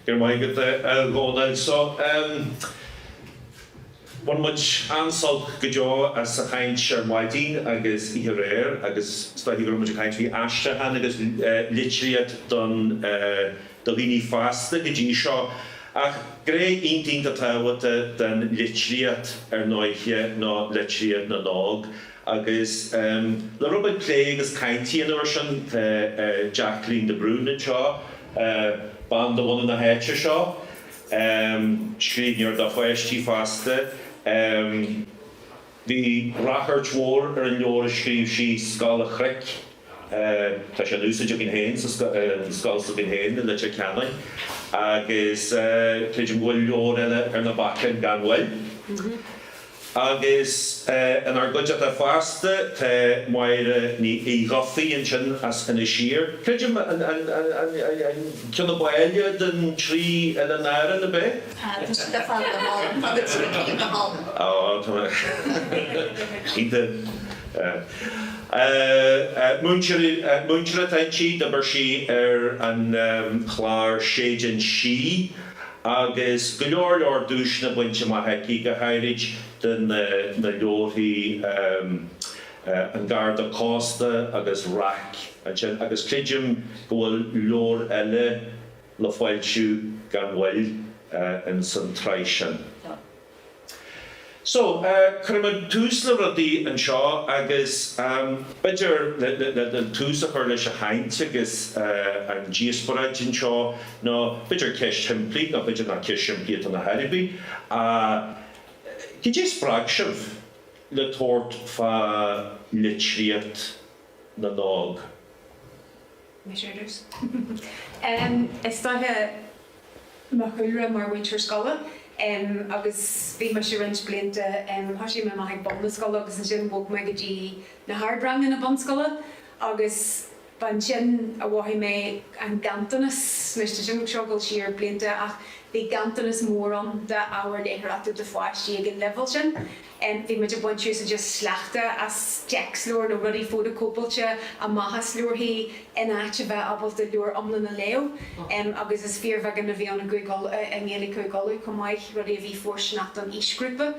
Go raibh maith agat a Dhomhnaill. So, bhain muid an-sult go deo as an chaint ar maidin agus oíche aréir agus is dóichí go raibh muid ag caint faoi aistriúchán agus litríocht don do dhaoine fásta go dtí seo. Ach gné iontach tábhachtach den litríocht ar ndóiche ná litríocht na n-óg. Agus le rud a phlé agus caint a dhéanamh air sin tá Jacqueline de Brún anseo, bean de bhunadh na háite seo, scríbhneoir do pháistí fosta. Bhí ráchairt mhór ar an leabhar a scríobh sí, Scáil a' Chnoic. Tá sé in úsáid againn féin sa scoil s'againn féin, i Leitir Ceanainn, agus creidim go bhfuil leabhair eile ar na bacáin gan mhoill. Agus inár gcuideachta feasta tá Máire Ní Dhubhthaigh ansin as Inis Oírr, creidim, an ceann ab áille den trí Oileáin Árann, ab é? Tá siad ar fad go hálainn, tá na trí cinn go hálainn. Tá, tá. Cinnte. Múinteoir atá inti, d'oibir sí ar an chlár Séideán Sí agus go leor leor duaiseanna bainte amach aici, go háirid do na leabharthaí An Garda Cósta agus Raic ansin, agus creidim go bhfuil leabhar eile le foilsiú gan mhoill ins an tsraith sin. So, cuirimid tús le rudaí anseo agus b'fhéidir le le tús a chur leis an chaint agus an díospóráid anseo nó b'fhéidir ceist shimplí nó b'fhéidir nach ceist shimplí atá ann ar chor ar bith ach cad é a spreag sibh le tabhairt fá litríocht na n-óg? Mise. Is dóiche, mo chúlra mar mhúinteoir scoile agus bhí mise roinnt blianta, thoisigh mé amach ag bun na scoile agus ansin bhog mé go dtí na hardranganna bunscoile agus ba ansin a mhothaigh mé an ganntanas, anois tá sin ag gabháil siar blianta ach bhí ganntanas mór ann d'ábhar léitheoireachta do pháistí ag an leibhéal sin. bhí muid ag baint úsáid as just sleachta as téacsleabhair nó rudaí fótacóipeáilte amach as leabharthaí in áit a bheith ábalta leabhar iomlán a léamh agus is fíorbheagán a bhí ann i nGaeilge Chúige Uladh chomh maith, rudaí a bhí fóirsteanach don aoisghrúpa.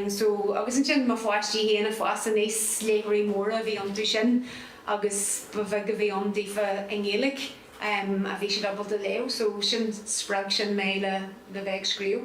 So, agus ansin mo pháistí féin ag fás aníos, léitheoirí móra a bhí iontu sin agus ba bheag a bhí ann daofa i nGaeilge a bhí siad ábalta léamh so sin, spreag sin mé le bheith ag scríobh.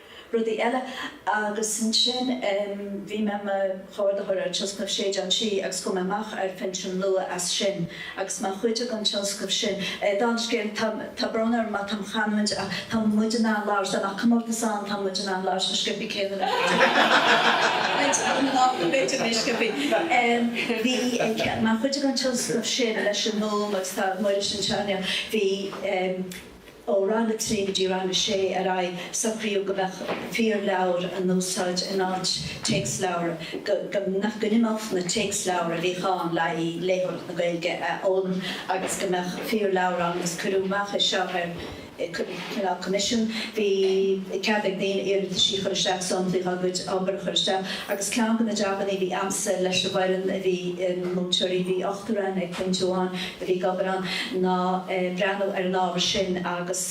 rudaí eile. Agus ansin bhí mé i mo chomhordaitheoir ar tionscnamh Séideán Sí agus chuaigh mé amach ar phinsean luath as sin agus mar chuid den tionscnamh sin dá scéal, tá, tá brón orm má táim ag caint ach tá muid in ann labhairt, dá mbeadh comórtas ann tá muid in ann labhairt chomh sciobtha céanna le muintir na Gaeltachta, b'fhéidir níos sciobthaí. Bhí, mar chuid den tionscnamh sin leis an nGúm agus tá Muiris anseo inniu, bhí, Ó rang a trí go dtí rang a sé ar aghaidh, socraíodh go mbeadh fíorleabhair in úsáid in áit téacsleabhar, go n-imeodh na téacsleabhair a bhíodh ann le haghaidh léitheoireacht na Gaeilge a fhoghlaim agus go mbeadh fíorleabhair ann agus cuireadh amach é seo ar coimisiún. Bhí cead ag daoine iarrataisí a chur isteach, samplaí dhá gcuid obair a chur isteach agus ceann de na jabannaí a bhí agamsa leis an bhfoireann, bhí múinteoirí, bhí ochtar ann ag pointe amháin, a bhí ag obair ann, ná breathnú ar an ábhar sin agus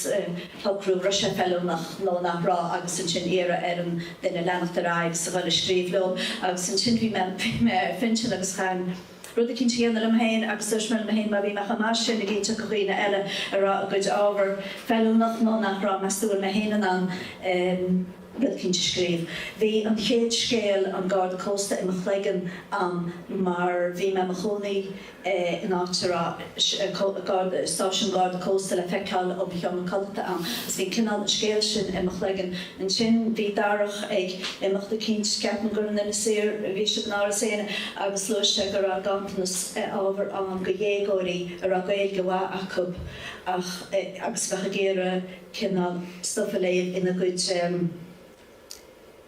socrú an raibh sé feiliúnach nó nach raibh agus ansin iarraidh ar an duine leanacht ar aghaidh is a dhul ag scríobh leo. Agus ansin bhí mé, bhí mé ar phinsean agus chaithfinn rud eicínt a dhéanamh liom féin agus dúirt mé liom féin má bhí mé chomh maith sin ag inseacht do dhaoine eile an raibh a gcuid ábhar feiliúnach nó nach raibh, meas tú bhfuil mé féin in ann rud eicínt a scríobh? Bhí an chéad scéal An Garda Cósta i mo chloigeann a'm mar bhí mé i mo chónaí in áit a raibh stáisiún garda cósta le feiceáil ó mo sheomra codlata ann agus bhí cineál an scéal sin i mo chloigeann. Ansin bhí Darach ag imeacht eicínt, ceapaim gur in Inis Oírr a bhí sibh in Áras Éanna, agus luaigh sé go raibh ganntanas ábhair ann do dhéagóirí a raibh Gaeilge mhaith acu ach agus a bheadh ag iarraidh cineál stuif a léamh ina gcuid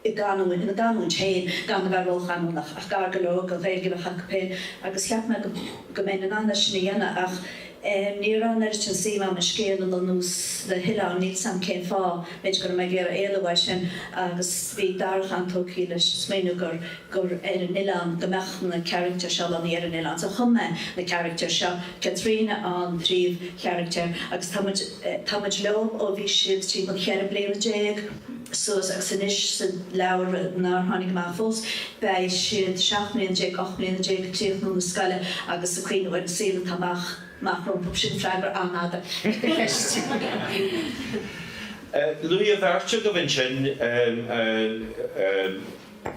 i gcanúint, ina gcanúint féin, gan a bheith róchanúnach, ach gar go leor don Ghaeilge a bheadh acu féin, agus cheap mé go mbeinn in ann é sin a dhéanamh, ach ní raibh an oiread sin suim a'm an scéal a lonnú sna hoileáin, níl 's a'm cén fáth, b'fhéidir go raibh mé ag iarraidh éalú uaidh sin, agus bhí Darach an-tógtha leis an smaoineamh gur, gur ar an oileán, go mbeadh na caractair seo lonnaithe ar an oileán. So chum mé na caractair seo, Caitríona an príomhcharactar, agus tá muid, tá muid leo ó bhí siad timpeall cheithre bliana déag, suas agus anois sa leabhar nár tháinig amach fós, beidh siad seacht mbliana déag, ocht mbliana déag ag críochnú na scoile agus ag cuimhneamh ar an saol atá amach amach rompu. Sin freagra an-fhada ar do cheist. Luaigh an bheirt agaibh ansin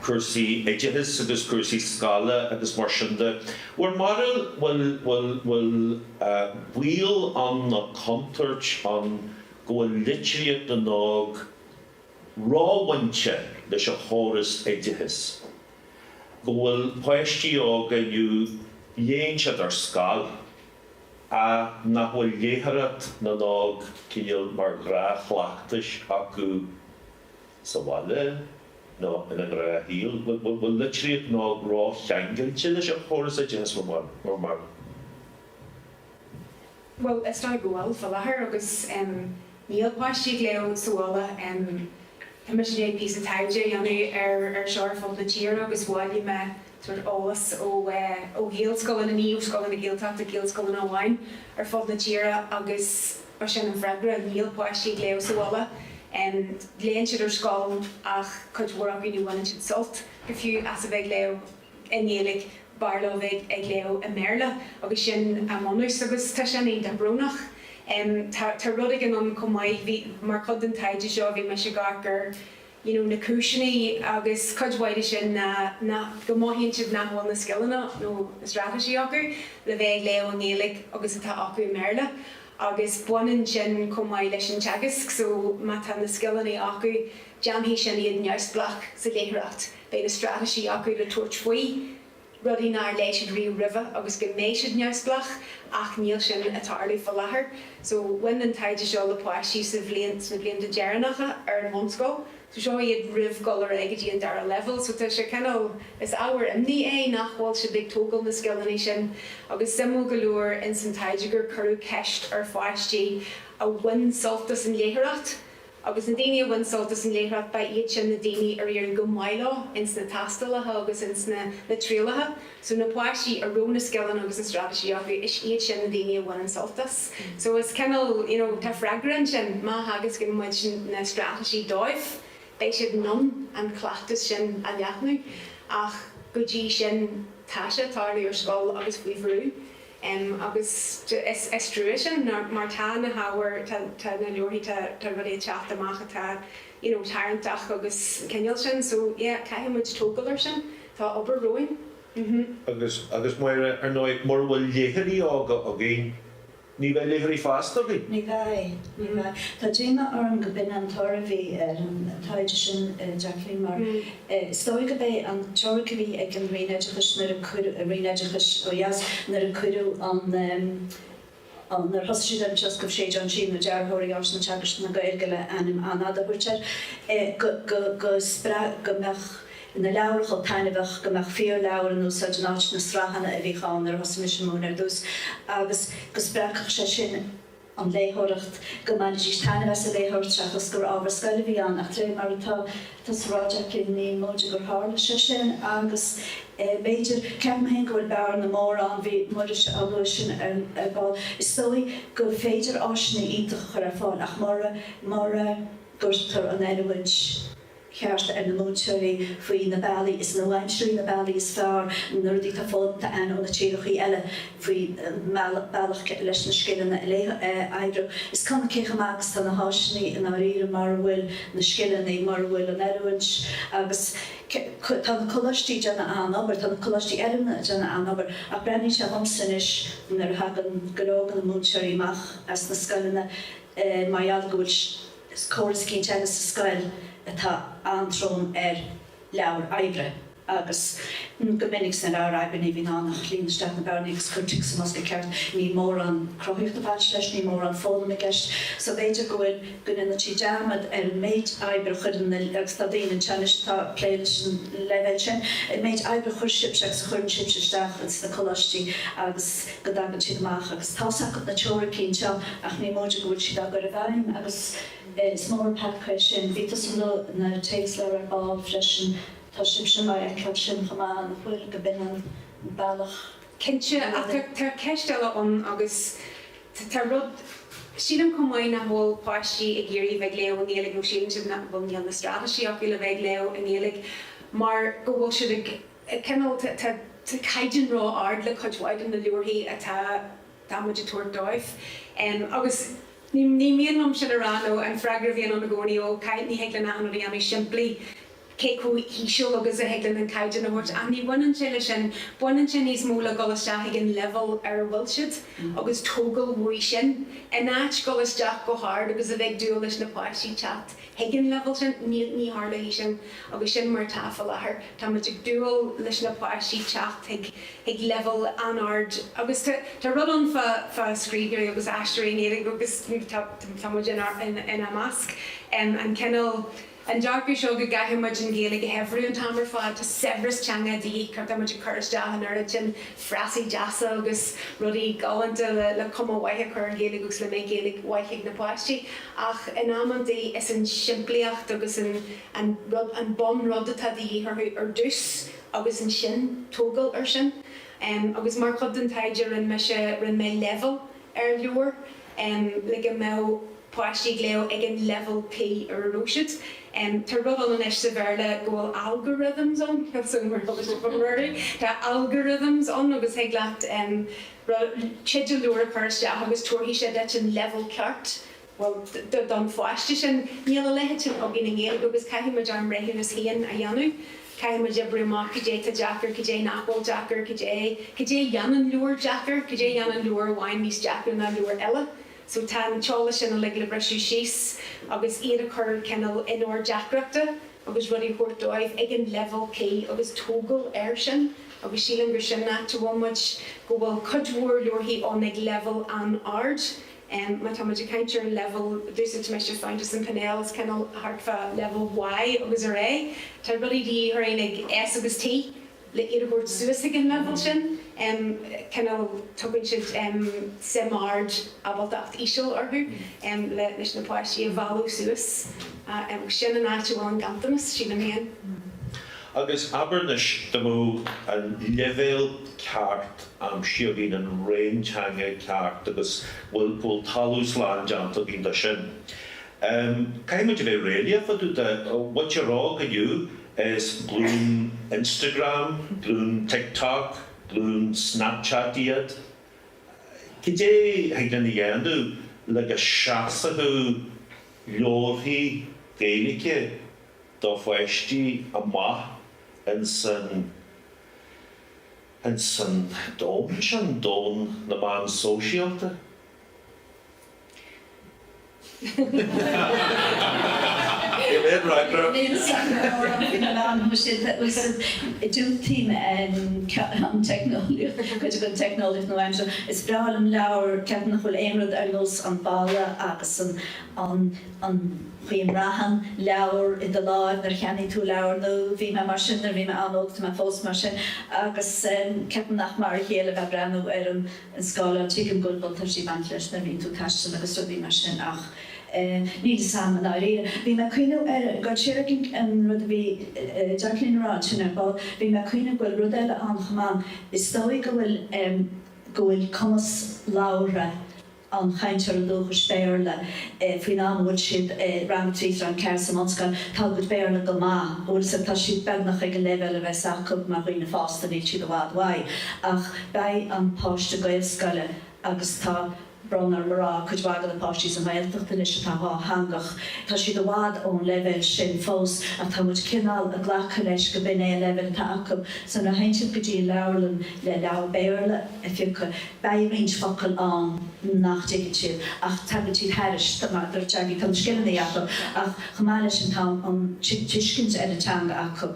cúrsaí oideachais agus cúrsaí scoile agus mar sin de. Bhur mbarúil, bhfuil baol ann nó contúirt ann go bhfuil litríocht na n-óg róbhainte leis an chóras oideachais, go bhfuil páistí óga inniu léann siad ar scoil, ach nach bhfuil léitheoireacht na n-óg cineál mar ghnáthchleachtas acu sa bhaile nó ina ngnáthshaol, go bhfuil litríocht na n-óg rócheangailte leis an chóras oideachais mar, mar. Bhuel, is dóigh go bhfuil, fá láthair, agus níl páistí ag léamh sa bhaile. Tá mise i ndiaidh píosa taighde a dhéanamh ar seo ar fud na tíre agus bhailigh mé sórt eolas ó Ghaelscoileanna, ní ó scoileanna na Gaeltachta, Gaelscoileanna amháin ar fud na tíre agus ba sin an freagra, níl páistí ag léamh sa bhaile. Léann siad ar scoil ach cuid mhór acu ní bhaineann siad sult go fiú as a bheith ag léamh. i nGaeilge, b'fhearr leo bheith ag léamh i mBéarla agus sin a mbunús agus tá sin iontach brónach. Tá rud éigin ann chomh maith, bhí, mar chuid den taighde seo, bhí mise ag amharc ar you know na cúiseanna agus cuid mhaith de sin ná nach, go mothaíonn siad nach bhfuil na scileanna nó na straitéisí acu le bheith ag léamh i nGaeilge agus atá acu i mBéarla agus baineann sin chomh maith leis an teagasc so má tá na scileanna acu déanfaidh sin iad neamhspleách sa léitheoireacht. Beidh na straitéisí acu le tabhairt faoi rudaí nár léigh siad riamh roimhe agus go mbeidh siad neamhspleách ach níl sin ag tarlú fá láthair. So bhain an taighde seo le páistí sa bhliain, sna blianta deireanacha ar an bhunscoil. So seo iad roimh dhul ar aghaidh go dtí an dara leibhéal. So tá sé cineál, is ábhar imní é nach bhfuil siad ag tógáil na scileanna sin agus suimiúil go leor ins an taighde gur cuireadh ceist ar pháistí a bhain sult as an léitheoireacht, agus na daoine a bhain sult as an léitheoireacht, ba iad sin na daoine ar éirigh go maith leo ins na tástálacha agus ins na na trialacha so, na páistí a raibh na scileanna agus na straitéisí acu, is iad sin na daoine a bhain an sult as. So is cineál, you know, tá freagra ansin, má theagascann muid na straitéisí dóibh, beidh siad in ann an cleachtas sin a leathnú, ach go dtí sin, tá sé ag tarlú ar scoil agus faoi bhrú. em, agus is trua sin, nár, mar tá na hábhair, tá, tá na leabharthaí, tá, tá rudaí ag teacht amach atá, you know, tarraingteach agus an cineál sin, so, yeah, caithfidh muid tógáil air sin. Tá obair romhainn. Mhm. Agus, agus Máire, ar ndóigh, mura bhfuil léitheoirí óga againn, ní bheidh léitheoirí fásta againn. Ní bheidh, ní bheidh. Tá díomá orm go b'in an toradh a bhí ar an taighde sin, a Jacqueline, mar. Is dóigh gurb é an teoiric a bhí ag an Roinn Oideachais nuair a cuireadh, Roinn Oideachais ó dheas, nuair a cuireadh an, an, nuair a thosaigh siad ar an tionscnamh Séideán Sí nó Dearthóirí Áiseanna Teagaisc na Gaeilge le ainm an-fhada a thabhairt air, go, go, go spreag, go mbeadh na leabhair chomh taitneamhach, go mbeadh fíorleabhair in úsáid in áit na sraitheanna a bhíodh ann nuair a thosaigh mise ag múineadh ar dtús agus go spreagfadh sé sin, an léitheoireacht, go mbainfidís taitneamh as an léitheoireacht seachas gur ábhar scoile a bhí ann, ach de réir mar atá tusa a rá, a Jacqui, ní móide gur tharla sé sin agus b'fhéidir, ceapaim féin go bhfuil bearna mhór ann, bhí Muiris á lua sin ar ball, is dóigh gur féidir áiseanna iontacha a chur ar fáil ach mura gcuirtear an oiliúint cheart ar na múinteoirí faoi na bealaí is nua-aimseartha, na bealaí is fearr, na rudaí atá foghlamtha againn ó na tíreachaí eile faoi bhealach leis na scileanna a fheabhsú. Is cuma cé chomh maith agus tá na háiseanna i ndáiríre mura bhfuil na scileanna, mura bhfuil an oiliúint agus tá na coláistí ag déanamh an-obair, tá na coláistí oiliúna ag déanamh an-obair ach breathnaíonn sé liomsa anois nuair a thagann go leor de na múinteoirí amach as na scoileanna mar gheall go bhfuil córas cinnte ann sa scoil atá an-trom ar leabhair oibre agus go minic sna leabhair oibre ní bhíonn ann ach líon isteach na bearnaí agus cuir tic sa mbosca ceart. Níl mórán cruthaitheachta ag baint leis, níl mórán foghlaim i gceist so b'fhéidir go bhfuil, go ndéantar dearmad ar an méid oibre a chuirtear ann, agus tá daoine anseo anois atá ag plé leis an leibhéal sin, an méid oibre a chuir sibhse agus a chuireann sibhse isteach ins na coláistí agus. go dtagann siad amach agus tá fhios acu na teoiricí anseo ach ní móide go bhfuil siad á gcur i bhfeidhm agus is mór an peaca é sin. Luaigh tusa na téacsleabhair ar ball freisin, tá sibhse ag feiceáil sin chomh maith, nach bhfuil, go b'shin an bealach? Cinnte, tá ceist eile ann agus tá rud, sílim chomh maith nach bhfuil páistí ag iarraidh a bheith ag léamh i nGaeilge nó síleann siad nach bhfuil, nach bhfuil na straitéisí acu le bheith ag léamh i nGaeilge mar go bhfuil siad ag. cineál, tá caighdeán ró-ard le cuid mhaith de na leabharthaí atá atá muid ag tabhairt dóibh. Agus ní mian liom sin a rá nó an freagra a bhíonn ann i gcónaí, ó, caithfidh, ní thig linn achan rud a dhéanamh simplí, cé chomh híseal agus a thig linn an caighdeán a thabhairt. Ach ní bhaineann sé le sin, baineann sé níos mó le ghabháil isteach ag an leibhéal ar a bhfuil siad agus tógáil uaidh sin, in áit ghabháil isteach go hard agus a bheith ag dúil leis na páistí teacht chuig an leibhéal sin, ní tharlóidh sin agus sin mar atá faoi láthair. Tá muid ag dúil leis na páistí teacht chuig leibhéal an-ard agus tá rud ann fá scríbhneoirí agus aistritheoirí na Gaeilge agus tá muid ina measc, an cineál, an dearcadh seo go gcaithfidh muid an Ghaeilge a shaibhriú an t-am ar fad. Tá saibhreas teanga de dhíth, tá muid ag cur isteach an oiread sin frasaí deasa agus rudaí galánta le cuma mhaith a chur ar an Ghaeilge agus le mbeidh Gaeilge mhaith ag na páistí. ach in amantaí is an tsimplíocht agus an bunrud atá de dhíth orthu ar dtús agus ansin tógáil ar sin. Agus mar chuid den taighde rinne mise, rinne mé leibhéalú ar leabhair le go mbeadh páistí ag léamh ag an leibhéal cuí ar a raibh siad. Tá rud ann anois sa Bhéarla go bhfuil algorithms ann, tá algorithms ann agus thig leat, thig leat teideal leabhair a chur isteach agus tabharfaidh sé duit an leibhéal ceart, bhuel, don pháiste sin. Níl a leithéid sin againn i nGaeilge agus caithfidh muid ár mbreithiúnas féin a dhéanamh. Caithfidh muid oibriú amach cad é tá deacair, cad é nach bhfuil deacair, cad é, cad é dhéanann leabhar deacair, cad é dhéanann leabhar amháin níos deacra ná leabhar eile. So tá an t-eolas sin uilig le briseadh síos agus iad a chur cineál in ord deacrachta agus rudaí a thabhairt dóibh ag an leibhéal cuí agus tógáil air sin agus sílim gur sin áit a bhfuil muid, go bhfuil cuid mhór leabharthaí ann ag leibhéal an-ard. Má tá muid ag caint ar an leibhéal, d'úsáid mise Fountas and Pinnell, is cineál thart fá leibhéal Y agus ar Z, tá rudaí de dhíth orainn ag S agus T. le iad a thabhairt suas ag an leibhéal sin, cineál, tugann siad suim ard, ábaltacht íseal orthu leis na páistí a mhealladh suas. Sin an áit a bhfuil an ganntanas, sílim féin. Agus abair anois, dá mbeadh an leibhéal ceart aimsithe againn, an réim teanga ceart, agus bhfuil, go bhfuil talamh slán déanta againn de sin, Um, caithfidh muid a bheith réalaíoch fá dtaobh de, uaidh a rá go, you know, is glúin Instagram, glúin TikTok, glúin Snapchat iad. Cad é thig linn a dhéanamh le go seasfadh leabharthaí Gaeilge do pháistí amach ins an, ins an domhan sin, domhan na meán sóisialta? Diúltaím an teicneolaíocht nua-aimseartha. Is breá liom leabhar, ceapaim nach bhfuil aon rud ar nós an boladh agus an chaoi a mbraitheann leabhar i do láimh nuair a cheannaíonn tú leabhar nua. Bhí mé mar sin nuair a bhí mé an-óg, tá mé fós mar sin agus ceapaim nach mar a chéile a bheith breathnú ar an an scáileán. Tuigim go bhfuil buntáistí ag baint leis nuair a bhíonn tú ag taisteal agus rudaí mar sin ach ní domsa i ndáiríre. Bhí mé ag cuimhneamh ar go háirithe an rud a bhí Jacqueline a rá ansin ar ball, bhí mé ag cuimhneamh go bhfuil rud eile ann chomh maith, is dóigh go bhfuil go bhfuil cumas labhartha an chainteora dúchais Béarla faoin am a bhfuil siad i rang a trí, rang a ceathair sa mbunscoil, tá a gcuid Béarla go maith, you know is tá siad beagnach ag an leibhéal a bheas acu mar dhaoine fásta, níl siad i bhfad uaidh ach. Beidh an páiste Gaelscoile agus tá brón orm a rá, cuid mhaith de na páistí sa nGaeltacht anois atá dhátheangach, tá siad i bhfad ón leibhéal sin fós ach tá muid cineál ag glacadh leis go b'in é an leibhéal atá acu. So nuair a théann siad go dtí an leabharlann le leabhar Béarla a phiocadh, beidh roinnt focal ann nach dtuigeann siad ach tagann siad thairis, mar a dúirt Jackie, tá na scileanna acu ach chomh maith leis sin tá an tuiscint ar an teanga acu.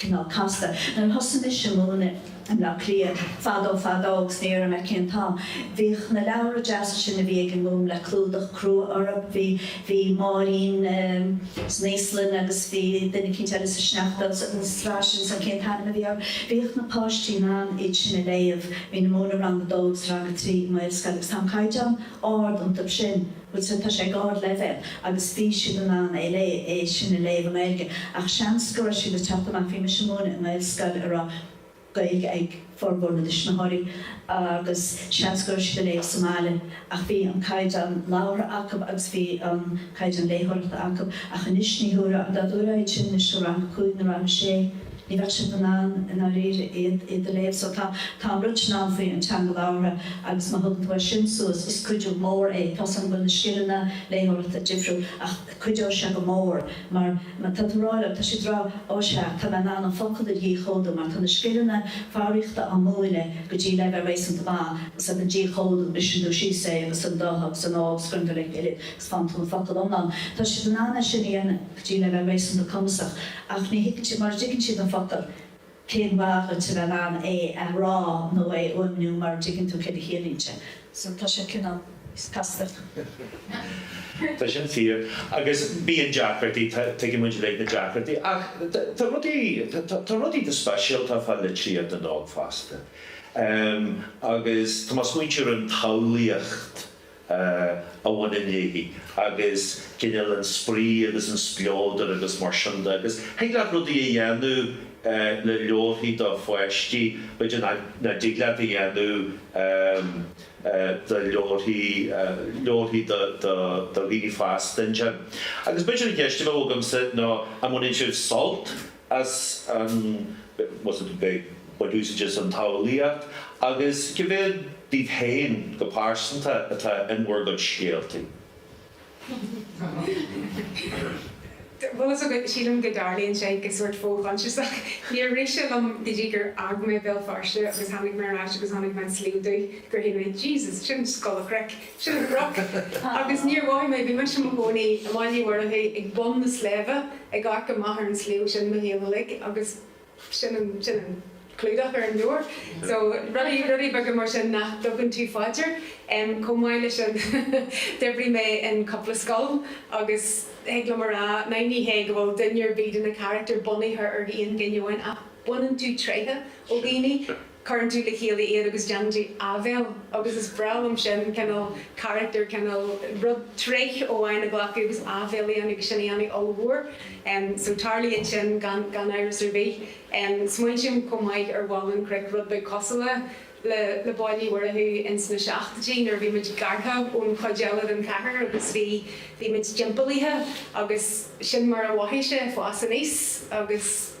cineál casta. Nuair a thosaigh mise ag múineadh i mBleá Cliath, fadó fadó, agus ní déarfaidh mé cén t-am, bhíodh na leabhra deasa sin a bhí ag an nGúm le clúdach crua orthu, bhí, bhí Máirín san Íoslainn agus bhí duine eicínt eile sa sneachta agus an tsraith sin, só, cén t-ainm a bhí orthu? Bhíodh na páistí in ann iad sin a léamh, bhínn ag múineadh rang a dó agus rang a trí i nGaelscoil agus tá an caighdeán ard iontu sin. But tá sé ag ardleibhéal agus bhí siad in ann é léigh, é sin a léamh i nGaeilge, ach seans go raibh siad ag teacht amach, bhí mise ag múineadh i nGaelscoil a raibh Gaeilge ag formhór na dtuismitheoirí agus seans go raibh siad ag léamh sa mbaile ach bhí an caighdeán labhartha acu agus bhí an caighdeán léitheoireachta acu ach anois ní thabharfainn, dá dtabharfá iad sin anois do rang a cúig nó rang a sé. Ní bheadh siad in ann i ndáiríre iad iad a léamh. So tá tá an rud sin ann faoi an teanga labhartha agus má thugann tú é sin suas is cuidiú mór é. Tá 's agam go bhfuil na scileanna léitheoireachta difriúil ach cuideoidh sé go mór mar mar tá tú ag rá leo, tá siad ag rá Ó sea, tá mé in ann an focal a dhíchódú mar tá na scileanna foghraíochta á múineadh go dtí leibhéal réasúnta maith agus ag an díchódú briseann tú síos é agus an do agus an ó agus cuireann tú le chéile agus faigheann tú an focal iomlán. Tá siad in ann é sin a dhéanamh. go dtí leibhéal réasúnta cumasach, ach ní thuigtear, mura dtuigeann siad an focal, cén mhaith dhuit a bheith in ann é a rá nó é a fhuaimniú mura dtuigeann tú céard a chiallaíonn sé. So, tá sé cineál casta. Tá sin fíor. Agus bíonn deacrachtaí, tuigeann muid uilig na deacrachtaí. Ach tá rudaí, tá rudaí go speisialta fá litríocht na n-óg fosta. Agus tá mé ag smaointiú ar an tsamhlaíocht, a bhaineann léi, agus cineál an spraoi agus an spleodair agus mar sin de, agus thig leat rudaí a dhéanamh le leabharthaí do pháistí, b'fhéidir, nach dtig leat a dhéanamh do leabharthaí, leabharthaí do dhaoine fásta ansin. Agus b'fhéidir an cheist a bheadh agamsa ná an mbaineann sibh sult, as a bheith ag úsáid an tsamhlaíocht agus cé mhéad díbh féin go pearsanta atá in bhur gcuid scéaltaí? Sílim go dtarlaíonn sé go sórt fo-choinsiasach. Níor rith sé liom go dtí gur fhág mé Béal Feirste agus tháinig mé ar ais agus chonaic mé an Sliabh Dubh gur shíl mé, Jesus, sin Scoil an Chnoic. Sin an cnoc. Agus níor mhothaigh mé, bhí mise i mo chónaí i mBaile Uí Mhurchú ag bun na sléibhe, ag amharc amach ar an sliabh sin mo shaol uilig agus sin an, sin an clúdach ar an leabhar. So rudaí, rudaí beaga mar sin nach dtugann tú fá dear. Chomh maith leis sin d'oibrigh mé in cúpla scoil agus thig liom a rá, ná ní hé go bhfuil duine ar bith de na carachtair bunaithe ar aon duine amháin ach baineann tú tréithe ó dhaoine. Cuireann tú le chéile iad agus déanann tú áibhéil agus is breá liom sin, cineál character, cineál rud, tréith amháin a ghlacadh agus áibhéil a dhéanamh agus sin a dhéanamh ollmhór. So tarlaíonn sin gan, gan amhras ar bith. Smaointím chomh maith ar Bhaile an Chnoic, rud beag cosúil le, le, le Baile Uí Mhurchú in sna seachtóidí nuair a bhí muid gearrtha ón chuid eile den chathair agus bhí, bhí muid timpeallaithe agus sin mar a mhothaigh sé, fás aníos agus.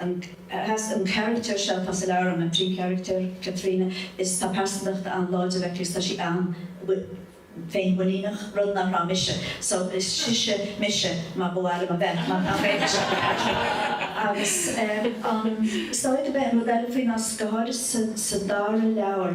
an charachtar seo atá sa leabhar, an príomhcharachtar, Caitríona, is tá pearsantacht an-láidir aici is tá sí an-féinmhuiníneach, rud nach raibh mise, so is sise mise mar ba mhaith liom a bheith, mar nach raibh mise aici. Agus an saíocht a bheith, an rud eile faoi ná, go háirithe sa dara leabhar,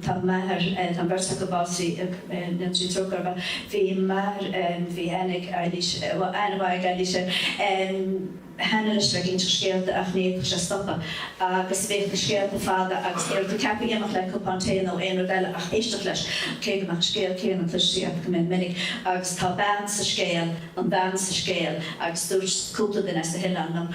Tá m'athair, tá an bheirt acu básaithe, go ndéana Dia trócaire orthu. Bhí m'athair, bhí aithne ag Eilís, bhuel, aithne mhaith ag Eilís air cheana anois ag inseacht scéalta ach ní fhéadfadh sé stopadh agus bhíodh na scéalta fada agus ní raibh tú ceaptha imeacht le cupán tae nó aon rud eile ach éisteacht leis, cé go mbeadh an scéal céanna cloiste agat go mion minic. Agus tá bean sa scéal, an bhean sa scéal agus dúirt cúpla duine as na hoileáin liom,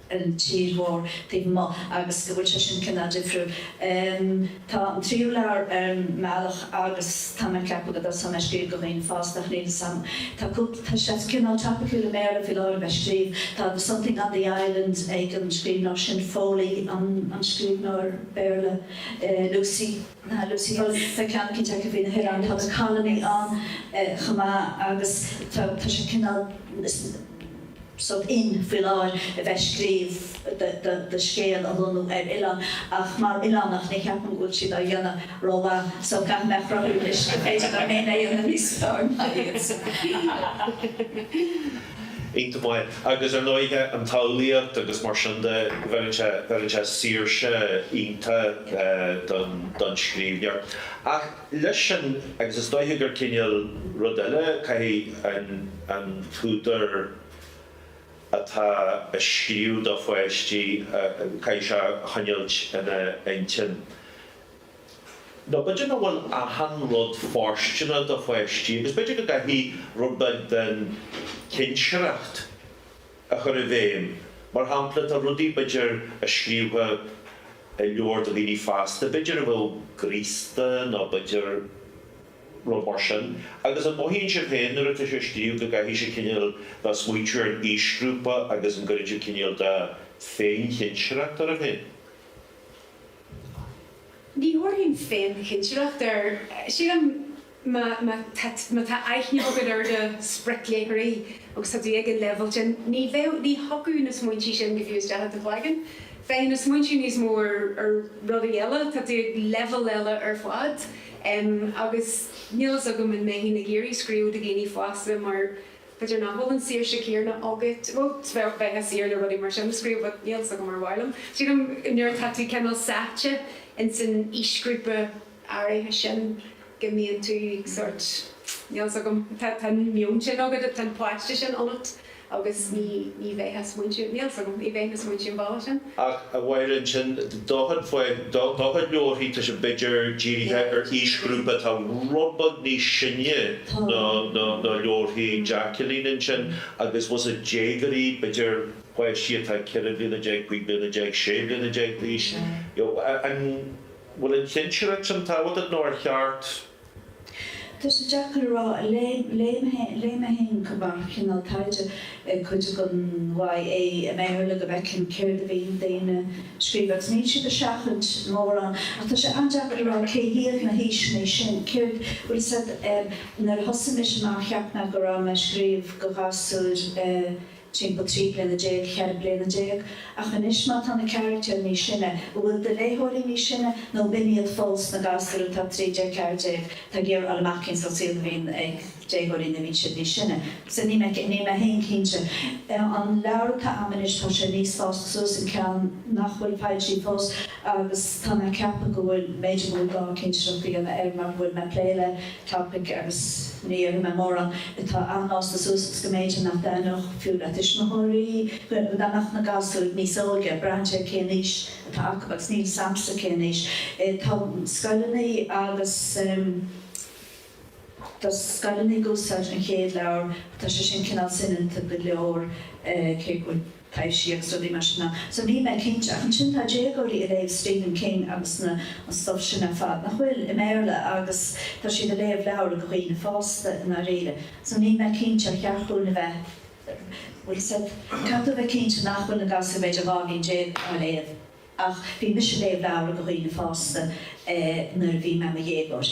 ar an tír mhór taobh amuigh agus go bhfuil sé sin cineál difriúil. Tá an tríú leabhar ar an mbealach agus tá mé ag ceapadh go dtosóidh mé ag scríobh do dhaoine fásta ach níl 'fhios a'm. Tá cúpla, tá sé cineál topiciúil i mBéarla faoi láthair a bheith ag scríobh. Tá The Something on the Island ag an scríbhneoir sin, Foley an scríbhneoir Béarla, Lucy. Lucy, tá ceann eicínt aici faoi na hoileáin, tá an Colony ann chomh maith agus tá sé cineál sórt in faoi láthair a bheith ag scríobh do scéal a lonnú ar oileán ach mar oileánach ní cheapaim go bhfuil siad á dhéanamh rómhaith so caithfidh mé a chruthú anois go b'fhéidir go bhfuil mé in ann a dhéanamh níos fearr ná iad. iontach maith. Agus, ar ndóighe, an tsamhlaíocht agus mar sin de, bheireann sé, bheireann sé saoirse iontach don, don scríbhneoir. Ach leis sin, agus is dóiche gur cineál rud eile, caithfidh an, an t-údar atá ag scríobh do pháistí, caithfidh sé a choinneáilt ina intinn, nó b'fhéidir nach bhfuil achan rud fóirsteanach do pháistí agus b'fhéidir go gcaithfidh rud beag den chinsireacht a chur i bhfeidhm, mar shampla, tá rudaí b'fhéidir a scríofá i leabhar do dhaoine fásta b'fhéidir a bheadh graosta nó b'fhéidir rud mar sin agus an mothaíonn sibh féin nuair atá sibh ag scríobh go gcaithfidh sibh cinéal a bheith ag smaointiú ar an aoisghrúpa agus an gcuireann sibh cinéal de féin-chinsireacht oraibh féin? Ní thabharfainn féin cinsireacht air. Sílim má tá aithne agat ar do spriocléitheoirí agus tá tú ag an leibhéal sin, ní bheadh, ní thiocfadh na smaointe sin fiú isteach i do chloigeann. Bheadh na smaointe níos mó ar rudaí eile, tá tú ag leibhéal eile ar fad. Agus níl a fhios agam an mbeinn ag iarraidh scríobh do dhaoine fásta mar B'fhéidir nach bhfuil an saoirse céanna agat. Bhuel, bheadh, bheifeá saor le rudaí mar sin a scríobh but níl 's agam ar mhaith liom. Sílim nuair atá tú cineál sáite ins an aoisghrúpa áirithe sin go mbíonn tú sórt, níl 's agam, tá an meon sin agat, tá an páiste sin ionat agus ní bheifeá a smaointiú, níl 's agam, ní bheifeá a smaointiú an bhealach sin. Ach a Mháirín, sin, do chuid leabharthaí, tá sé b'fhéidir dírithe ar aoisghrúpa atá rud beag níos sine ná leabharthaí Jacqueline ansin, agus was it déagoirí, b'fhéidir páistí atá ceithre bliana déag, cúig bliana déag, sé bliana déag d'aois, you know. An bhfuil an chinsireacht sin tábhachtach nó ar cheart. Tá sé deacair a rá. Léigh mé féin chomh maith cineál taighde, cuid den YA i mBéarla go bhfeicfinn céard a bhí daoine a scríobh agus níl siad ag seachaint mórán ach tá sé an-deacair a rá cé hiad na haoiseanna sin, cé a bhfuil siad Nuair a thosaigh mise amach cheap mé go raibh mé ag scríobh do ghasúir timpeall trí bliana déag, cheithre bliana déag, ach anois má tá na carachtair níos sine, an bhfuil do léitheoirí níos sine nó b'in iad fós na gasúir atá trí déag, ceathair déag, tá ag iarraidh fháil amach cén sórt saoil a bhíonn ag déagóirí nuair a bhíonn siad níos sine? Sea, níl mé, níl mé féin cinnte. An leabhar atá a'm anois, tá sé níos fásta suas, an ceann nach bhfuil foilsithe fós, agus tá mé ag ceapadh go bhfuil mé, b'fhéidir, ag gabháil cinsireacht a dhéanamh air mar go bhfuil mé ag plé le, topic agus ní fhaca mé mórán atá an-fhásta suas agus go mb'fhéidir nach dtaitneodh sé fiú le tuismitheoirí dá mbeadh na gasúir níos óige, braitheann sé cén aois atá acu agus níl a fhios a'msa cén aois. Tá scoileanna agus tá scoileanna ag úsáid an chéad leabhar ach tá sé sin cineál soineanta go leor cé go bhfuil. Taibhsí is rudaí mar sin ann. So níl mé cinnte. Ach ansin tá déagóirí a léamh Stephen King agus na an stuff sin ar fad, nach bhfuil, i mBéarla agus tá siad a léamh leabhra do dhaoine fásta i ndáiríre. So níl mé cinnte ar cheart dhúinn a bheith bhuel is dóigh caithfidh tú a bheith cinnte nach bhfuil na gasúir b'fhéidir dhá bhliain déag á léamh ach bhí mise a léamh leabhra do dhaoine fásta eh nuair a bhí mé i mo dhéagóir.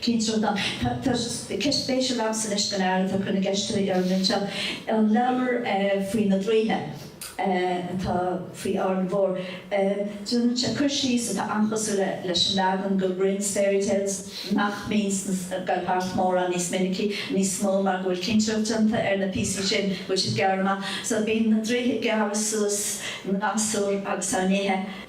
Cén sórt an. Tá ceist spéisiúil agamsa anois don fhear atá ag cur na gceist uilig orainn anseo. An leabhar faoi na draoithe atá faoi Árainn Mhór, déanann sé cur síos atá an-chosúil leis an leagan de Grimm's Fairy Tales nach mbíonn ag gabháil thart mórán níos minicí, níos mó mar go bhfuil cinsireacht déanta ar na píosaí sin go bhfuil siad gearrtha amach. So bíonn na draoithe ag gearradh suas na ngasúr agus á n-ithe.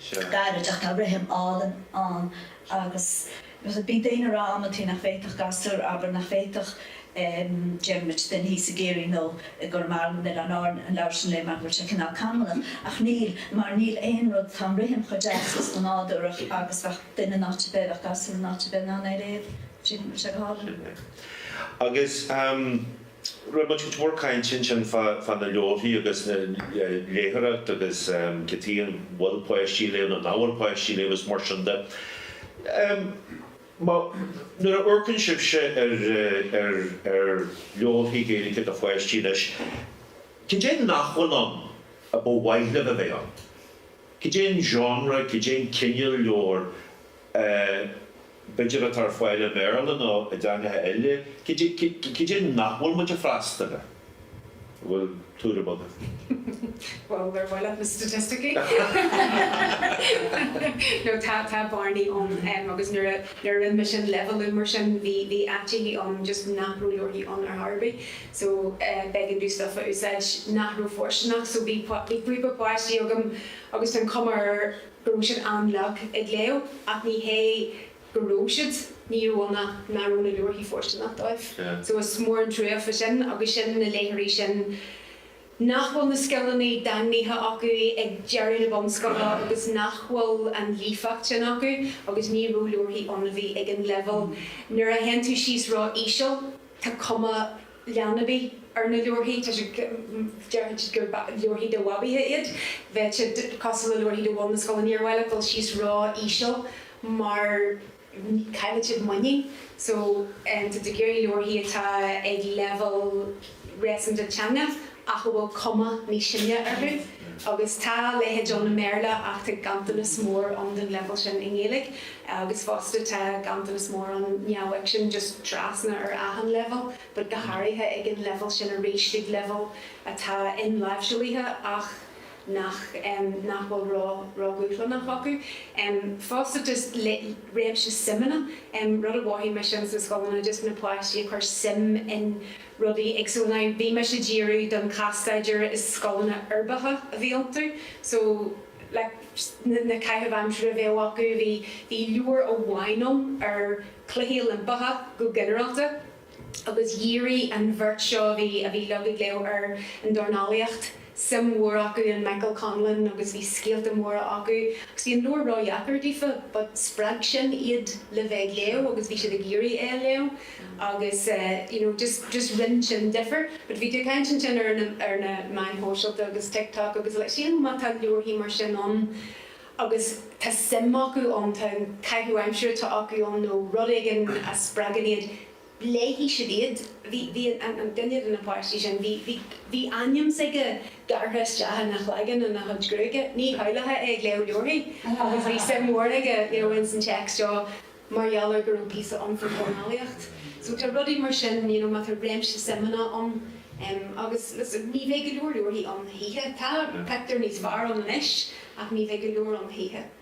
seo. gairid ach tá rithim álainn ann agus bhí daoine ag rá amantaí nach bhféadfadh gasúr, abair, nach bhféadfadh Diarmuid Johnson thíos i gCiarraí nó i gConamara nó in Oileáin Árann an leabhar sin a léamh mar go bhfuil sé cineál canúnach ach níl mar níl aon rud, tá an rithim chomh deas is chomh nádúrach agus bheadh duine in áit ar bith, bheadh gasúr in áit ar bith in ann é a léamh, tá sé go hálainn. Sin é. Agus. Raibh muid go mór cainte ansin fá dtaobh de na leabharthaí agus na léitheoireacht agus cé acu an bhfuil páistí ag léamh nó nach bhfuil páistí ag léamh agus mar sin de. Má, nuair a amharcann sibhse ar leabharthaí Gaeilge do pháistí anois, cad é nach bhfuil ann ar mhaith libh a bheith ann? Cad é an genre, cad é an cineál leabhar b'fhéidir, atá ar fáil i mBéarla nó i dteangacha eile, cad é nach bhfuil muid ag freastal air? An bhfuil tuairim agaibh? Bhuel, ar mhaith leat na staitisticí? No, tá bearnaí ann agus nuair a rinne mise an leibhéalú mar sin, bhí áiteachaí ann just nach raibh leabharthaí ann ar chor ar bith. So, b'éigean dom stuff a úsáid nach raibh fóirsteanach. So, bhí b'fhéidir páistí agam agus tá an cuma air, go raibh siad an-lag ag léamh, ach ní hé go raibh siad níorbh ea, ní raibh na leabharthaí fóirsteanach dóibh. So is mór an truaighe faoi sin, agus sin na léitheoirí sin nach bhfuil na scileanna daingnithe acu ag deireadh na bunscoile agus nach bhfuil an líofacht sin acu agus ní raibh leabharthaí ann a bhí ag an leibhéal. Nuair a théann tú síos ró-íseal, tá cuma leanbaí ar na leabharthaí. Tá sé, déarfaidh siad gur leabharthaí do bhabaithe iad. Bheadh sé cosúil le leabharthaí do bhun na scoile. Níor mhaith leat dul síos ró íseal mar caillfidh siad muinín. So, tá tú ag iarraidh leabharthaí atá ag leibhéal réasúnta de theanga. ach a bhfuil cuma níos sine orthu, agus tá a leithéid ann i mBéarla ach tá ganntanas mór ann den leibhéal sin i nGaeilge, agus fosta tá ganntanas mór ann neamhfhicsin just trasna ar achan leibhéal, but go háirithe ag an leibhéal sin arís, ag leibhéal atá inláimhsithe ach nach, em, nach bhfuil ró, ródhúshlánach acu. Em, fosta just le, réimse suimeanna, em, rud a mhothaigh mise ins na scoileanna, just na páistí a chuir suim in rudaí éagsúla ann. Bhí mise ag díriú, don chás-staidéar, is scoileanna uirbeacha a bhí iontu, so like na caitheamh aimsire a bheadh acu, bhí leabhar amháin ann ar na Cluichí Oilimpeacha go ginearálta agus dhírigh an bheirt seo a bhí a bhí liom ag léamh ar an dornálaíocht. suim mhór acu in Michael Conlon agus bhí scéalta móra acu agus bhí an leabhar ro-dheacair daofa but spreag sin iad le bheith ag léamh agus bhí siad ag iarraidh é a léamh agus eh you know just just rinn sin difir but bhí tú ag caint ansin ar na ar na meáin shóisialta agus TikTok agus like sílim má tá leabharthaí mar sin ann agus tá suim acu ann tá an caitheamh aimsire atá acu ann nó rud éigin a spreagann iad léifidh siad iad. Bhí aon duine de na páistí sin, bhí ainm s'aige gearrtha isteach ina chloigeann ina chuid gruaige, ní shamhlófá é ag léamh leabharthaí, agus bhí suim mhór aige ins an téacs seo mar gheall ar go raibh píosa ann faoi dhornálaíocht. So tá rudaí mar sin, you know má tá réimse suimeanna ann, agus listen, ní bheidh go leor leabharthaí ann choíche, tá pictiúir níos fearr ann anois, ach ní bheidh go leor ann choíche.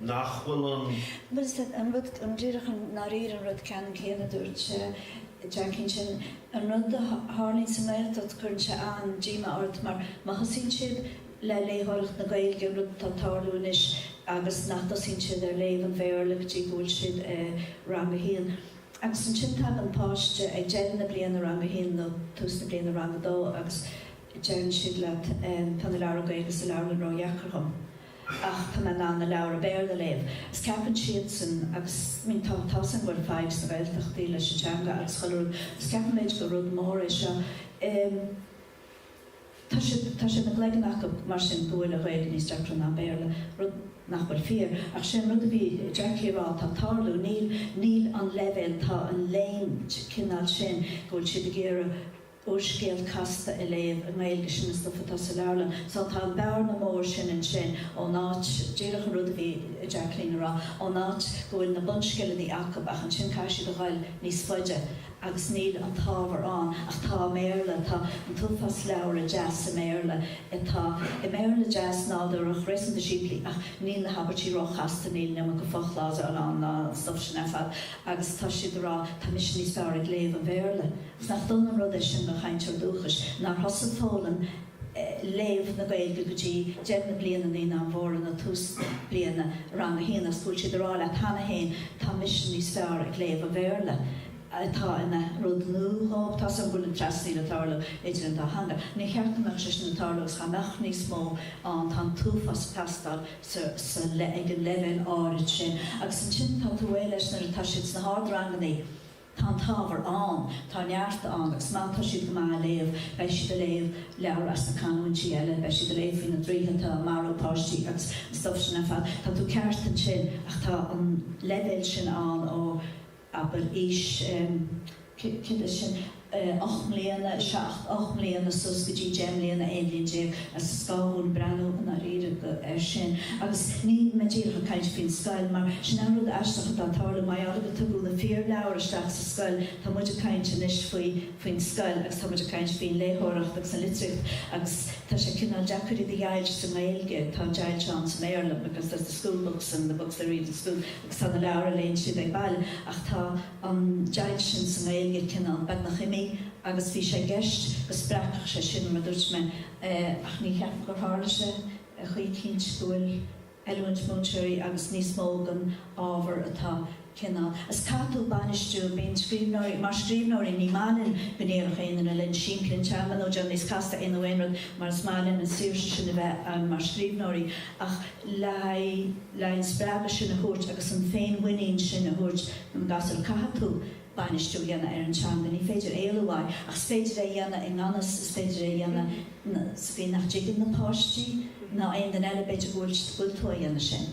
nach bhfuil an. Bhuel, díreach i ndáiríre an rud ceannann céanna a dúirt Jacqueline ansin. An rud a tharlaíonn sa nGaeltacht, cuireann sé an-díomá ort mar má thosaíonn siad le léitheoireacht na Gaeilge, rud atá ag tarlú anois, agus nach dtosaíonn siad ar léamh an Bhéarla go dtí go bhfuil siad i rang a haon. Agus ansin tagann páiste ag deireadh na bliana rang a haon nó tús na bliana rang a dó agus deireann siad leat, tá na leabhra Gaeilge sa leabharlann ródheacair dhom. ach tá mé in ann na leabhra Béarla a léamh. Is ceapann siadsan, agus I mean tá a fhios againn, go bhfuil fadhb sna Gaeltachtaí leis an teanga agus chuile rud, is ceapann muid gur rud mór é seo. Em. tá siad, tá sé ina gcloigeann acub mar sin go bhfuil an Ghaeilge níos deacra ná an Béarla, rud nach bhfuil fíor, ach sin an rud a bhí Jackie a rá, atá ag tarlú, níl, níl an leibhéal, tá an léim, cineál sin, go bhfuil siad ag iarraidh, úrscéal casta a léamh i nGaeilge, sin an stuif atá sa leabharlann. Só, tá an bearna mór sin ansin ón áit, díreach an rud a bhí Jacqueline a rá, ón áit go bhfuil na bunscileannaí acu ach ansin caithfidh siad a ghoil níos faide agus níl an t-ábhar ann ach tá i mBéarla, tá an t-uafás leabhra deas i mBéarla atá i mBéarla deas nádúrach, réasúnta simplí ach níl na habairtí róchasta, níl an iomarca fochlásail ann ná an stuif sin ar fad. agus tá siad ag rá, tá mise níos fearr ag léamh an Bhéarla, agus nach dona an rud é sin do chainteoir dúchais, nár thosaigh foghlaim léamh na Gaeilge go dtí deireadh na bliana naíonáin mhóra nó tús bliana rang a haon, agus go bhfuil siad ag rá leat cheana féin, tá mise níos fearr ag léamh an Bhéarla, atá ina rud nua dhóibh. Tá a fhios agam go bhfuil an trasnaíl ag tarlú idir an dá theanga. Níor cheart go mbeadh sé sin ag tarlú agus dhá mbeadh níos mó ann, tá an t-uafás ag teastáil, sa le ag an leibhéal áirid sin agus ansin tá tú réidh leis nuair atá siad sna hardrangannaí, tá an t-ábhar ann, tá neart ann agus má tá siad go maith a léamh, beidh siad a léamh leabhair as na canúintí eile, beidh siad a léamh faoi na draoithe atá a marú páistí agus an stuff sin ar fad, tá tú ceart ansin ach tá an leibhéal sin ann ó. abair, aois, cibé sin, ocht mbliana, seacht, ocht mbliana suas go dtí deich mbliana, aon bhliain déag, is gá dúinn breathnú i ndáiríre air sin. Agus níl mé díreach ag caint faoin scoil, mar sin an rud aisteach atá ag tarlú, mar gheall gur tugadh na fíorleabhair isteach sa scoil, tá muid ag caint anois faoi, faoin scoil, agus tá muid ag caint faoin léitheoireacht agus an litríocht, agus tá sé cineál deacair iad a dheighilt sa nGaeilge, tá deighilt ann sa mBéarla, because there's the school books and the books they read in school. Tá na leabhair a léann siad ag baile, ach tá an deighilt sin sa nGaeilge cineál beagnach imithe agus bhí sé i gceist go spreagfadh sé sin mar a dúirt mé, ach ní cheapaim gur tharla sé choíchin, cinnte go bhfuil oiliúint múinteoirí agus níos mó den ábhar atá cineál. Is caithfidh tú bainistiú, bíonn scríbhneoirí mar scríbhneoirí, ní maith linn go ndéarfadh aon duine linn simpligh an teanga nó déan níos casta é nó aon rud mar is maith linn an saoirse sin a bheith ann mar scríbhneoirí ach le haghaidh le haghaidh an spreagadh sin a thabhairt agus an féinmhuinín sin a thabhairt don ghasúr. Caithfidh tú bainistiú a dhéanamh ar an teanga, ní féidir éalú uaidh, ach is féidir é a dhéanamh i ngan fhios, is féidir é a dhéanamh sa gcaoi nach dtuigeann na páistí ná aon duine eile, b'fhéidir go bhfuil, go bhfuil tú á dhéanamh sin.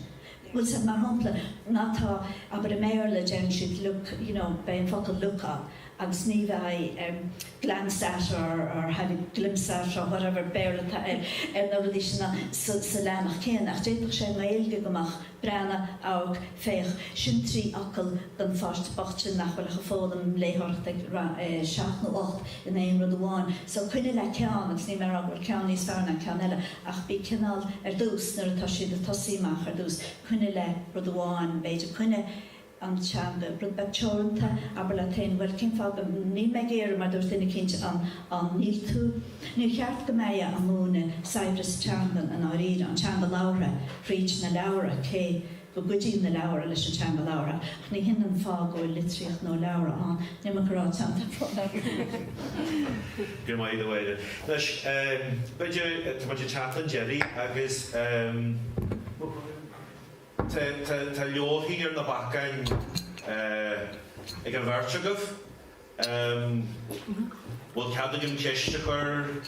Bhfuil a fhios agat, mar shampla, má tá, abair i mBéarla deireann siad look, you know, beidh an focal look ann agus ní bheidh. glanced at or or had a glimpse at or whatever, Béarla atá air, ar na rudaí sin sa sa leathanach céanna, ach d'fhéadfadh sé i nGaeilge go mbeadh, breathnaigh, amharc, féach, sin trí fhocal don pháiste bocht sin nach bhfuil ach ag foghlaim léitheoireachta ag 7 nó 8 in aon rud amháin. So coinnigh le ceann agus níl mé ag rá go bhfuil ceann níos fearr ná ceann eile ach bí cineál, ar dtús, nuair atá siad ag tosaí amach ar dtús, coinnigh le rud amháin, b'fhéidir coinnigh, an teanga rud beag teoranta, abair leat féin, bhuel, cén fáth go, níl mé ag iarraidh, mar dúirt duine eicínt, an, an, níl tú, níor cheart go mbeifeá ag múineadh saibhreas teangan i ndáiríre, an teanga labhartha, fríd na leabhra, cé go gcuidíonn na leabhra leis an teanga labhartha, ach ní hin an fáth go bhfuil litríocht nó leabhra ann, níl mé ag rá ceann den fáth labhartha. Go raibh maith agat, a Mháire. Anois, b'fhéidir, tá muid ag teacht chun deiridh agus. Tá leabharthaí ar na bacáin ag an bheirt agaibh. Bhfuil cead agam ceist a chur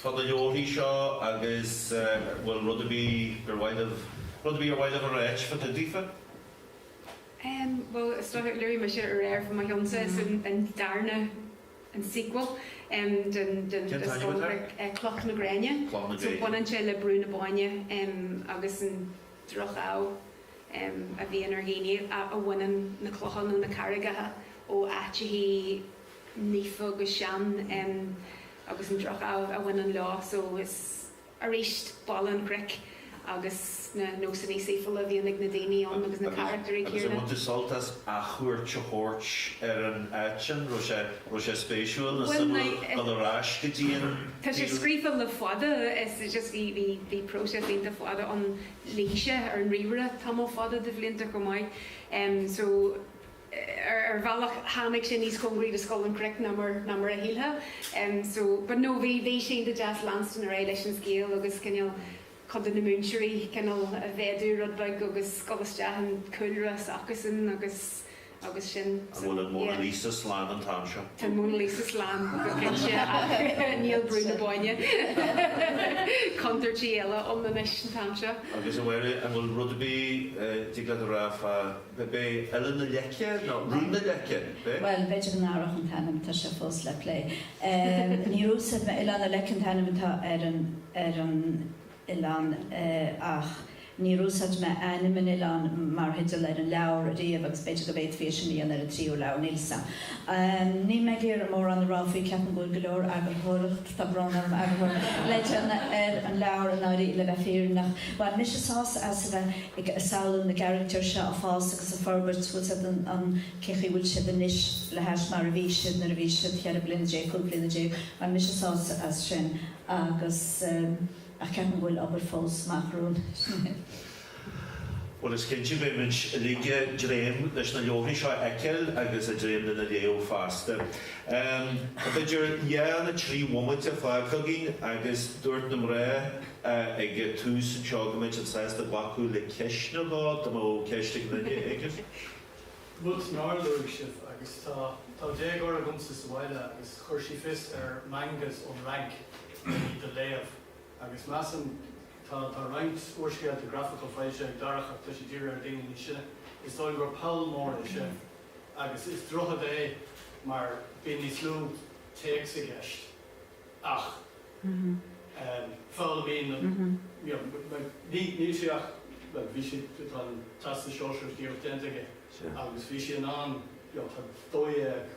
fá na leabharthaí seo agus an bhfuil rud ar bith gur mhaith libh, rud ar bith ar mhaith libh a rá fá dtaobh daofa? Bhuel, is dócha, luaigh mise aréir fá mo cheannsa, is é an darna, an sequel, den scannán Cloch na Gréine. Cloch na Gréine. Baineann sé le Brú na Bóinne agus an. droch-ádh a bhíonn ar dhaoine a bhaineann na clocha nó na carraigeacha ó áiteachaí naofa agus sean agus an droch-ádh a bhaineann leo. So is aríst Baile an Chnoic agus na nósannaí saoifiúla a bhíonn ag na daoine ann agus na carachtaerí Agus an céanna. Bhain tú sult as athchuairt a thabhairt ar an áit sin? Raibh sé, raibh sé spéisiúil nó suimiúil dul ar ais go dtí an, Tá sé scríofa le fada, is é just, bhí, bhí, bhí próiseas iontach fada ann, luigh sé ar an ríomhaire tamall fada de bhlianta chomh maith. So, ar, ar bhealach tháinig sé níos cóngaraí do Scoil an Chnoic ná mar, ná mar a shílfeá. So, but no, bhí, bhí sé iontach deas leanstan ar aghaidh leis an scéal agus cineál, cuid de na múinteoirí cineál a mhéadú rud beag agus gabháil isteach i gcúlra s'acusan agus agus sin. An bhfuil an Mona Lisa slán an t-am seo? Tá an Mona Lisa slán go cinnte ach níl Brú na Bóinne, contúirt eile ann anois an t-am seo. Agus a Mháire, an bhfuil rud ar bith a dtig leat a rá fá. B'é Oileán na Leice nó Rún na Leice, b'é? Bhuel, b'fhéidir go n-athródh an t-ainm, tá sé fós le plé. Níor úsáid mé, Oileán na Leice an t-ainm atá ar an, ar an oileán ach níor úsáid mé ainm an oileáin mar theideal ar an leabhar ariamh agus b'fhéidir go bhféadfaí é sin a dhéanamh ar an tríú leabhar, níl fhios a'm. Níl mé ag iarraidh mórán a rá faoi, ceapaim go bhfuil go leor eagarthóireacht. Tá brón orm ag Bridget ar an leabhar áirithe le bheith fírinneach. Bhain mise sásamh as a bheith ag samhlú na gcarachtar seo ag fás agus ag forbairt, bhfuil siad in ann, cé chaoi bhfuil siad anois le hais mar a bhí siad nuair a bhí siad cheithre bliana déag, cúig bliana déag, bhain mise sásamh as sin agus, ach ceapaim go bhfuil obair fós amach romhainn. Bhuel, is cinnte, beimid uilig ag dréim leis na leabharthaí seo a fheiceáil agus ag dréim lena léamh feasta. Tá b'fhéidir dhá nó trí bhomaite fágtha againn agus dúirt na mná ag an tús anseo go mbeadh siad sásta glacadh le ceist nó dhó dá mbeadh ceist ag duine éigin. Rud nár luaigh sibh, agus tá, tá déagóir agamsa sa bhaile agus chuir sí fios ar mangas ón Fhrainc le hiad a léamh. agus measaim, tá tá roinnt úrscéalta grafacha foilsithe ag Darach ach tá siad dírithe ar daoine níos sine, is dóigh gur poll mór é sin agus is droichead é mar bíonn níos lú téacs i gceist ach em foghlaimíonn na you know like ní níl sé ach bhuel bhí sé tá an Teastas Sóisearach díreach déanta aige agus bhí sé in ann you know tá dó dhéag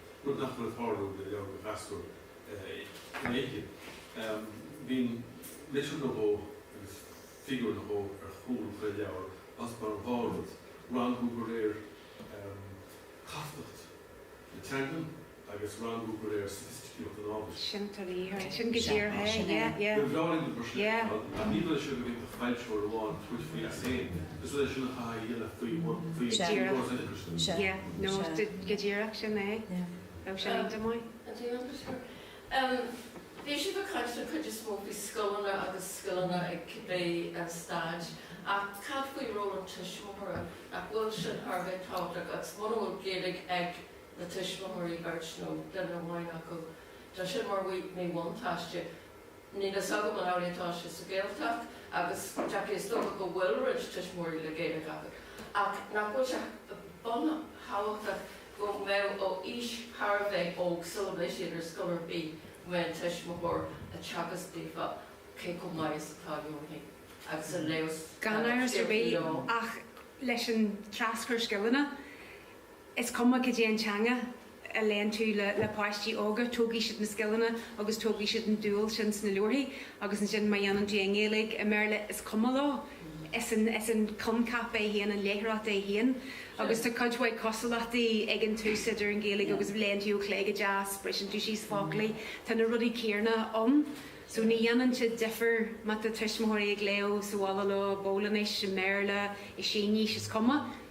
rud nach bhfuil ag tarlú le leabhair do ghasúir in Éirinn. Bíonn litir nó dhó agus figiúr nó dhó ar chúl chuile leabhar, ós comhair an dá rud, rangú de réir castacht na teangan agus rangú de réir soifisticíocht an ábhair. Sin go díreach é. Níor mhaith liom gur sin é, ná ní bhraith sé go bhféadfadh foilsitheoir amháin tabhairt faoi as féin. Bhí siad ag caint den chuid is mó faoi scoileanna agus scoileanna ag cibé staid, ach cad faoi ról an tuismitheora? Nach bhfuil sin thar a bheith tábhachtach? Agus muna bhfuil Gaeilge ag na tuismitheoirí, beirt nó duine amháin acu, tá sin mar mhíbhuntáiste. Níl a fhios agam an amhlaidh atá sé sa Ghaeltacht, agus Jackie is dócha go bhfuil roinnt tuismitheoirí le Gaeilge acu, ach nach bhfuil sé buntábhachtach go mbeadh ó aois thar a bheith óg sula mbeidh siad ar scoil ar bith go mbeadh an tuismitheoir ag teagasc daofa cé chomh maith is atá leabharthaí agus ag léamh scéalta leo. Gan amhras ar bith, ach leis an traschur scileanna Is cuma cad é an teanga a léann tú le páistí óga, tógfaidh siad na scileanna agus tógfaidh siad an dúil sin sna leabharthaí agus ansin má dhéanann tú i nGaeilge, i mBéarla, is cuma leo. Is é an coincheap é féin, an léitheoireacht é féin agus tá cuid mhaith cosúlachtaí ag an tús idir an Ghaeilge agus, léann tú ó chlé go deas, briseann tú síos focla, tá na rudaí céanna ann so ní dhéanann sé difear má tá tuismitheoirí ag léamh sa bhaile leo, i bPolainnis, i mBéarla, i Sínis, is cuma.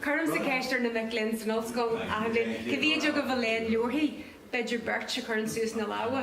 Cuirimse ceist ar na mic léinn san ollscoil achan bhliain, cé mhéid agaibh a léann leabharthaí? B'fhéidir beirt a chuireann suas na lámha.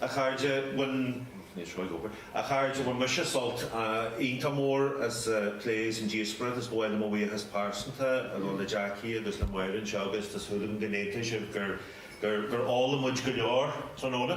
A chairde, bhain mise sult iontach mór as an phlé is an díospóireacht. Is ba mhaith liom mo bhuíochas pearsanta a ghabháil le Jackie agus le Máire anseo agus tá súil agam go n-aontóidh sibh gur fhoghlaim muid go leor tráthnóna.